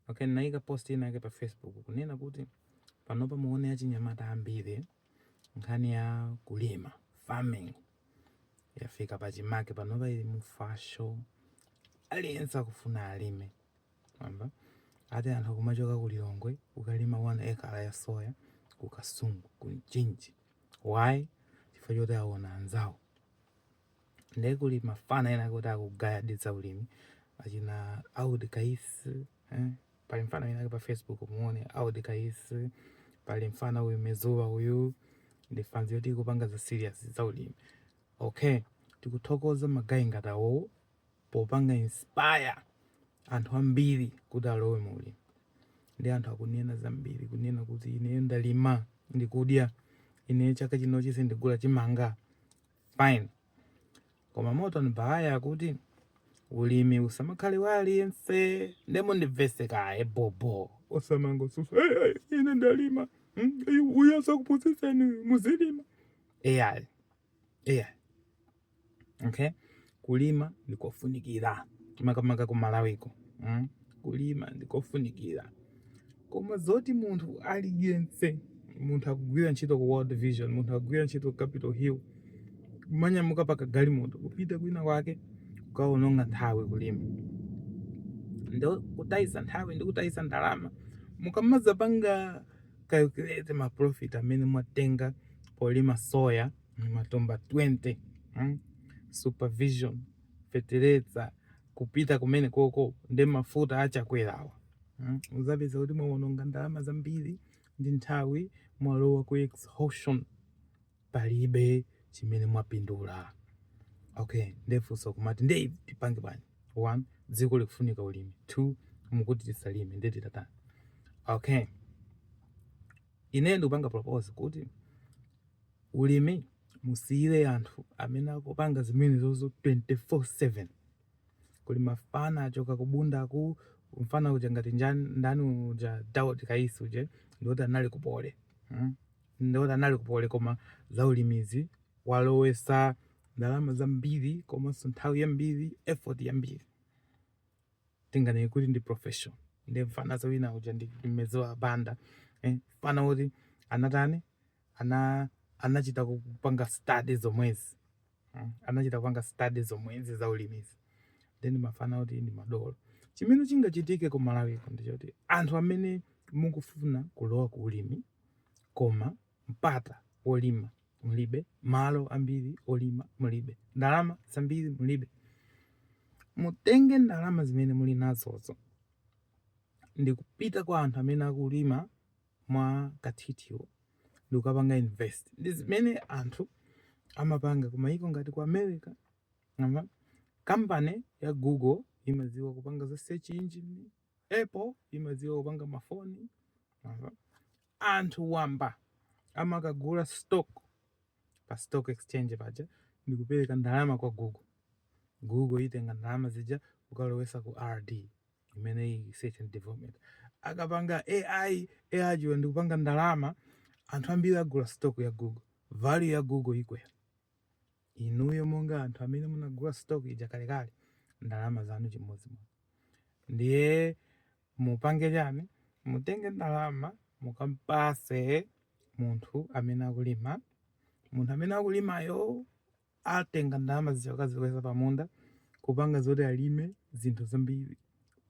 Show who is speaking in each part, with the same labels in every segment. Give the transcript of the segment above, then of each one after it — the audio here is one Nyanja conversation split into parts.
Speaker 1: Okay, naika post ina yake pa Facebook kunena kuti panopa muone achinyamata ambiri nkhani ya kulima farming yafika pachimake panopa uli mu fasho aliyense akufuna alime amba ati anthu akumachoka ku Lilongwe kukalima 1 ekala ya soya ku Kasungu ku Mchinji why chifukwa choti aona anzawo ndiye kuli mafana enaake oti akugaya ndi zaulimi achina Daud Kayisi eh? pali mfana wina pa facebook muone Daud Kayisi pali mfana uyu mezuwa uyu ndi fanzi yoti ikupanga za serious zaulimi okay tikuthokoza magayi ngati awowo popanga inspire anthu ambiri kuti alowe mu ulimi ndi anthu akunena zambiri kunena kuti ineyo ndalima ndikudya ine chaka chinochi sindigula chimanga fine koma moto mbaya akuti ulimi usamakhale wa aliyense nde mundimvese kaye bhobho osamangosusa ine ndalima hmm? uyo asakuphunzitseni muzilima ayi ayi okay Kulima ndikofunikira makamaka ku Malawiko kulima ndikofunikira koma zoti munthu aliyense munthu akugwira ntchito ku World Vision munthu akugwira ntchito ku Capital Hill kumanyamuka pa kagalimoto kupita kwina kwake kukaononga nthawi kulima ndi kutayisa nthawi ndi kutayisa ndalama mukamazapanga calculate ma profit amene mwatenga polima soya matumba 20 mm? supervision fetereza kupita kumenekoko nde mafuta achakwerawa mm? uzapeza kuti mwaononga ndalama zambiri ndi nthawi mwalowa ku exhaustion palibe chimene mwapindula okay nde funso nkumati nde tipange bwanji one dziko likufunika ulimi two mukuti tisalime nde titatani okay ine ndikupanga propose kuti Ulimi musiyile anthu amene akupanga zimenezozo 24/7 kuli mafana achoka ku Bunda kuli mfana uja ngati njan, ndani uja Daud Kayisi uja ndi oti anali ku Poly mm? ndi oti anali ku Poly koma za ulimizi walowesa ndalama zambiri komanso nthawi yambiri effort yambiri tinganene kuti ndi profession ndi mfana winawake uja ndi mmeziwa banda eh? mfana woti anatani ana anachita kupanga study zomwezi, mm, anachita kupanga study zomwezi za ulimizi then mafana kukhala madolo chimene chingachitike ku Malawi ndi choti anthu amene mukufuna kulowa ku ulimi koma mpata wolima mulibe malo ambiri olima mulibe ndalama zambiri mulibe mutenge ndalama zimene muli nazozo ndikupita kwa anthu amene akulima mwa kathithiwo ndikukapanga invest. Ndi zimene anthu amapanga ku mayiko ngati ku America. Mwamva? Company ya Google imadziwa kupanga za search engine, Apple imadziwa kupanga mafoni. Mwamva? Anthu wamba amakagula stock pa stock exchange paja ndikupereka ndalama kwa Google. Google itenga ndalama zija kukalowesa ku RD. imene research and development akapanga AI AI ijayo ndikupanga ndalama anthu ambiri agula stock ya google value ya google ikwera inuyo monga anthu amene munagula stock ija kalekale ndalama zanu chimodzimodzi ndiye mupange chani mutenge ndalama mukampatse munthu amene akulima munthu amene akulimayo Atenga ndalama zija kukaziika pa munda kupanga zoti alime zinthu zambiri.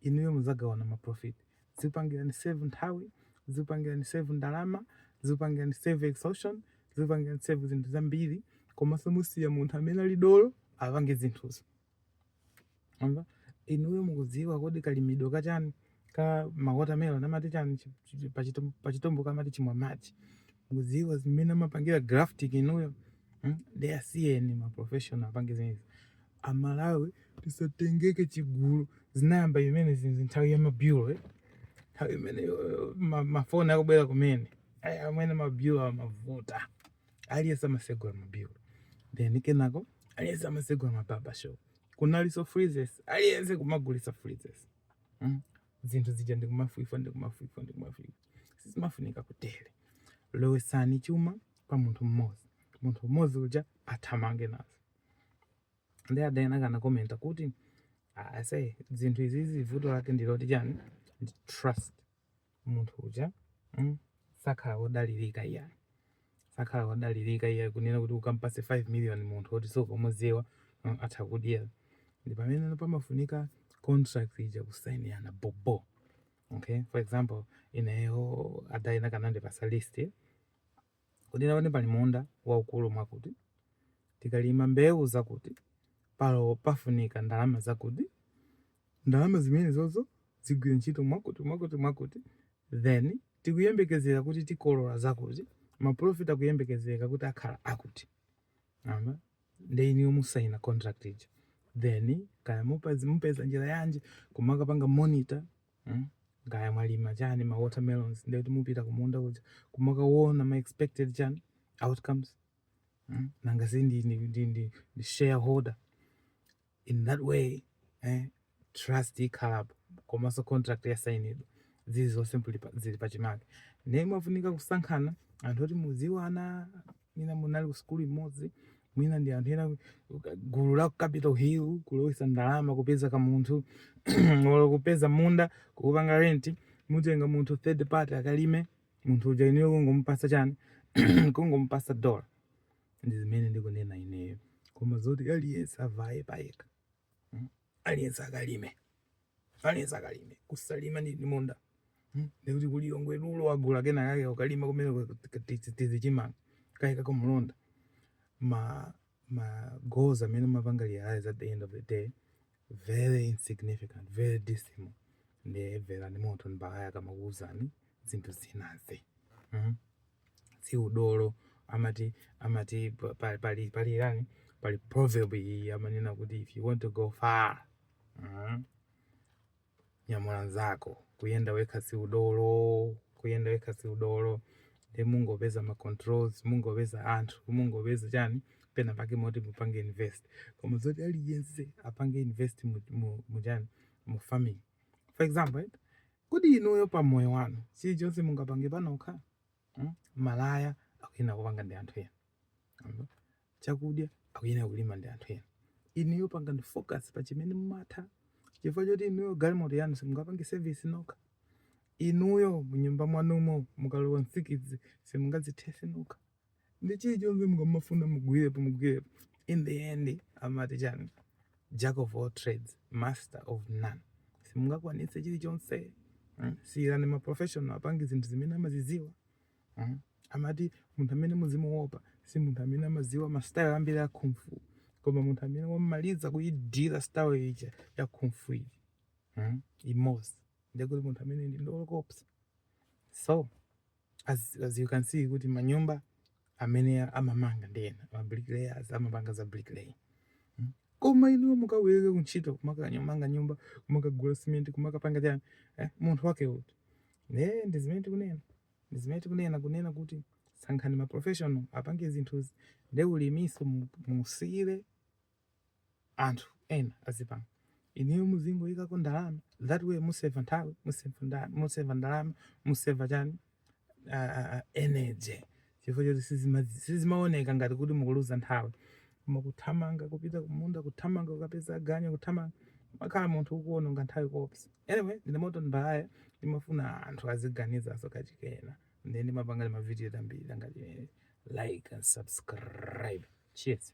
Speaker 1: Inuyo muzagawana ma profit. Zikupangirani save nthawi, zikupangirani save ndalama, zikupangirani save exhaustion, zikupangirani save zinthu zambiri komanso musiya munthu amene ali dolo apange zinthuzo. Mwamva inuyo mukudziwa kodi kalimidwe ka chani ka ma watermelon amati chani chi- chi- pachiTum- pachiTumbuka amati chimwa madzi. Mukudziwa zimene amapangira grafting inuyo. Mm? Ndi asiyeni ma professional apange zimenezi. Amalawi tisatengeke chigulu zinayamba zimenezi nthawi ya mabureau eh? nthawi imene eh, ma- mafoni akubwera kumene. Aya amene mabureau amavuta. aliyense amasegula mabureau then kenako aliyense amasegula mabarber shop kunalinso freezits aliyense kumagulitsa freezits mm? zinthu zija ndikumafa ifa ndikumafa ifa ndikumafa ifa sizimafunika kutele lowetsani chuma kwa munthu mmodzi munthu mmodzi uja athamange nazo ndi a Diana anakomenta kuti ase zinthu izizi vuto lake ndiloti chani ndi trust munthu uja mm, sakhala wodalirika iyayi sakhala wodalirika iyayi kunena kuti ukampatse 5 million munthu oti sukumudziwa mm, atha kudya ndi pamene pamafunika contract ija kusainirana bobo okay for example ineyo a Diana akanandipatsa list Kuti apapa pali munda waukulu mwakuti, tikalima mbewu zakuti, palo pafunika ndalama zakuti, ndalama zimenezozo zigwire ntchito mwakuti, mwakuti, mwakuti, then tikuyembekezera kuti tikolola zakuti, ma profit akuyembekezeka kuti akhala akuti. Mwamva? Nde inuyo musaina contract ija. Then kaya mupeza njira yanji kumakapanga monitor. mm? kaya mwalima chani ma watermelons ndeti mupita kumunda kuja kumakaona ma expected chani outcomes mm? nanga si ndi, ndi, ndi, ndi, ndi shareholder in that way eh? trust ikhalapo komanso contract yasainidwa zili zonse zili pachimake ndiye mumafunika kusankhana anthu oti mukudziwana mwina munali kusukulu imodzi mwina ndi anthu ena gulu la ku capital hill kulowesa ndalama kupeza ka munthu olo kupeza munda kukupanga renti mutenga munthu third party akalime munthu uja ineyo kungomupasa chani kungomupasa dola ndi zimene ndikunena ineyo koma zoti aliyense avaye payekha hmm? aliyense akalime aliyense akalime kusalima munda hmm? ndikuti ku Lilongwe rural wagula kena kake akalima kumene tichimanga kake kako mulonda ma ma goals amene mumapanga realize at the end of the day very insignificant very dismal ndiye mverani madolo akamakuuzani zinthu zinazi mm -hmm. si udolo amati amati pa- pa- pali pali chani pali proverb iyi amanena kuti if you want to go far mm, nyamula nzako kuyenda wekha si udolo kuyenda wekha si udolo nde mungopeza ma controls mungopeza anthu mungopeza chani pena pake moti mupange invest koma zoti aliyense apange invest mu, mu, mu chani mu farming for example right? Kodi inuyo pa moyo wanu chilichonse mungapange panokha? Hmm? Malaya akuyenera kupanga ndi anthu ena, hmm? chakudya akuyenera kulima ndi anthu ena. Inuyo pangani focus pa chimene mumatha, chifukwa choti inuyo galimoto yanu simungapange service nokha. Inuyo munyumba mwanumo mukalowa nsikidzi simungazithetse nokha. nde chilichonse mumafuna mugwirepo mugwirepo in the end amati chani jack of all trades master of none simungakwanitse chilichonse mm? siyirani maprofessional apange zinthu zimene amaziziwa mm? amati munthu amene muzimuopa si munthu amene amaziwa mastyle ambiri a kung fu koma munthu amene wamaliza kuyidziwa style ija ya kung fu iyi mm? imodzi ndekuti munthu amene ndi dolo woopsa so as, as you can see kuti manyumba amene amamanga ndi ena mabricklayers amapanga za bricklaying hmm? koma inuyo mukaweruke kuntchito kumakanyamanga nyumba kumakagula simenti kumakapanga chani eh, munthu wake uti nde ndi zimene tikunena ndi zimene tikunena kunena kuti sankhani maprofessional apange zinthuzi nde ulimiso muwasiyire anthu ena azipanga inuyo muzingoyikako ndalama that way museva nthawi museva nda- museva ndalama museva chani ah, ah, ah, energy chifukwa choti sizima- sizimaoneka ngati kuti mukuluza nthawi koma kuthamanga kupita kumunda kuthamanga kukapeza aganyu kuthamanga umakhala munthu ukuononga nthawi koopsa anyway ndine moto mbalaya ndimafuna anthu aziganizaso kachikena nde ndimapanga ndi mavidiyo ambiri angati like and subscribe cheers